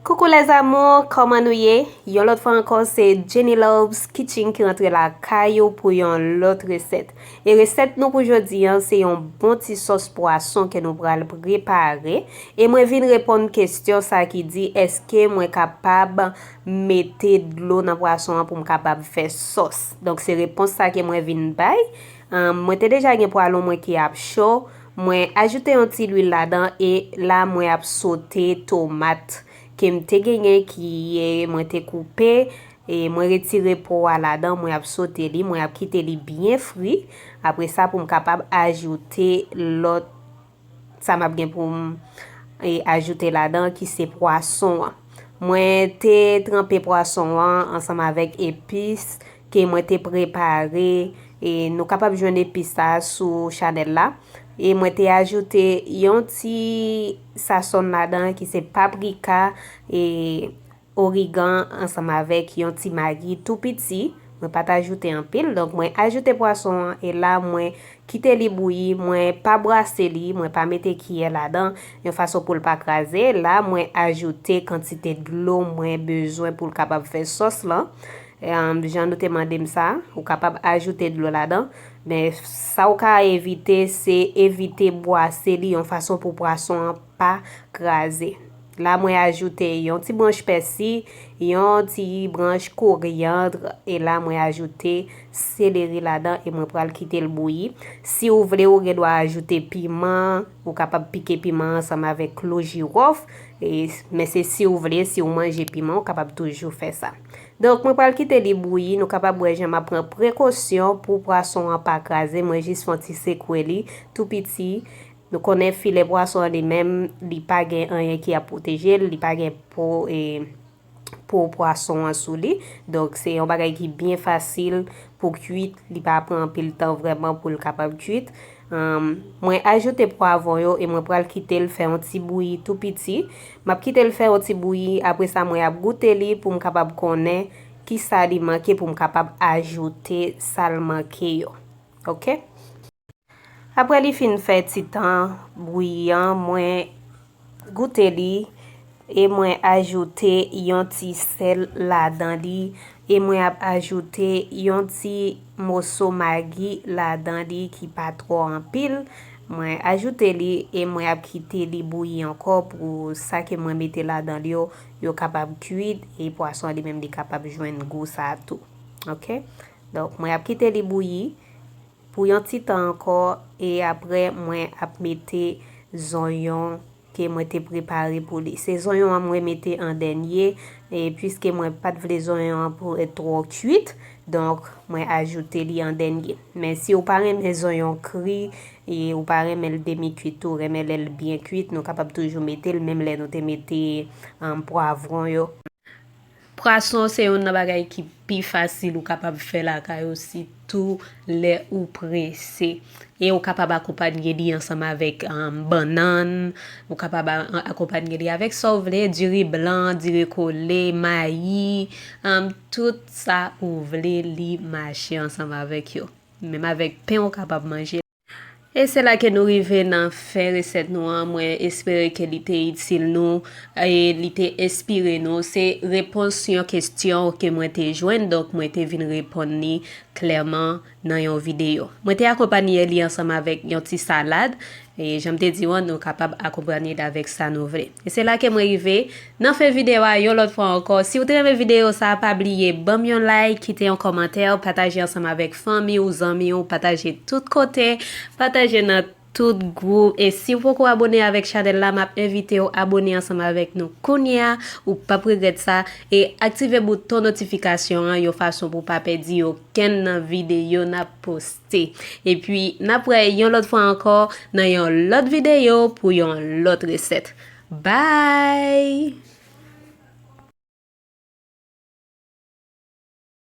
Coucou les amours, kòman nou ye? Yon lòt fwa ankò se Jenny Loves Kitchen ki rantre la kay ou pou yon lòt resèt. E resèt nou pou jodi an se yon bon ti sòs pwason ke nou pral prepare. E mwen vin reponn kestyon sa ki di eske mwen kapab mete dlo nan pwason an pou m kapab fè sòs. Donk se repons sa ke mwen vin bay. Humm mwen te deja gen pwalon mwen ki ap cho, mwen ajoute yon ti lwil ladan e la mwen ap sote tomat kem te genyen ki e mwen te koupe e mwen retire po a ladan mwen ap sote li mwen ap kite li byen fri apresa poum kapab ajoute lòt Sa map gen pou m ajoute ladan ki se pwason an. Mwen te tranpe pwason an ansanm avèk epis ke mwen te prepare e nou kapab jwenn epis sa sou chanèl la. E mwen te ajoute yon ti sasonn ladan ki se paprika e... Origan ansanm avèk yon ti magi tou piti, mwen pat ajoute anpil, donk mwen ajoute pwason an e la mwen kite li bouyi, mwen pa brase li, mwen pa mete kiyè ladan yon fason poul pa kraze, la mwen ajoute kantite dlo mwen bezwen poul kapab fè sòs lan, jan nou te mandem sa, ou kapab ajoute dlo ladan, men sa ou ka evite se evite bwase li yon fason pou pwason an pa kraze. La mwen ajoute yon ti branch pèsi, yon ti branch koryandr, e la mwen ajoute seleri ladan e mwen pral kite l bouyi. Si ou vle ou gen dwa ajoute piman, ou kapab pike piman ansanm avèk klou jirof, men se si ou vle, si ou manje piman ou kapab toujou fè sa. Donk mwen pral kite li bouyi, nou kapab wè jan m ap pran prekosyon pou pwason an pa kraze, mwen jis fon ti sekwe li tou piti. Nou konnen filè pwason an li menm li pa gen anyen ki ap pwoteje l, li pa gen po e po pwason an sou li, donk se yon bagay ki byen fasil pou kuit, li pa pran anpil tan vrèman pou l kapab kuit. Mwen ajoute pwavon yo e mwen pral kite l fè yon ti bouyi tou piti. M ap kite l fè yon ti bouyi, apre sa mwen ap goute li pou m kapab konnen kisa li manke pou m kapab ajoute sa l manke yo. Ok. Aprè li fin fè ti tan bouyi an mwen goute li e mwen ajoute yon ti sèl ladan li e mwen ap ajoute yon ti moso magi ladan li ki pa twò anpil mwen ajoute li e mwen ap kite li bouyi ankò pou sa ke mwen mete ladan li yo yo kapab kwit e pwason li menm li kapab jwenn gou sa tou ok donk mwen ap kite li bouyi. Pou yon ti tan ankò e aprè mwen ap mete zonyon ke mwen te prepare pou li. Se zonyon an mwen mete an dènye e puiske mwen pat vle zonyon an pou et twò kuit donk mwen ajoute li an dènye. Men si ou pa renmen zonyon kri e ou pa renmen l demi kuit tou renmen lè l byen kuit nou kapab toujou mete l menm lè nou te mete pwavron yo. Pwason se youn nan bagay ki pi fasil ou kapab fè lakay ou sitou lè ou prese. E ou kapab akonpanye li ansanm avèk bannann, ou kapab akonpanye li avèk sa ou vle, diri blan, diri kole, mayi, tout sa ou vle li mache ansanm avèk yo. Menm avèk pen ou kapab manje. E se la ke nou rive nan fen resèt nou an, mwen espere ke li te itil nou e li te enspire nou, se repons yon kestyon ke mwen te jwenn donk mwen te vin reponn li klèman nan yon videyo. Mwen te akonpanye li ansanm avèk yon ti salad e janm te di ou an nou kapab akonpanye li avèk sa nou vle. E se la ke mwen rive Nan fen video a yon lòt fwa ankò si ou te renmen video sa pa bliye banm yon like kite yon kòmantè pataje ansanm avèk fanmi ou zanmi ou pataje tout kote pataje nan tout gwoup e si ou poko abone avèk chanèl la map envite ou abone ansanm avèk nou kounye a ou pap regrèt sa e aktive bouton notifikasyon an yon fason pou pa pèdi okenn nan video nap poste epi nap wè yon lòt fwa ankò nan yon lòt video pou yon lòt resèt. Bye!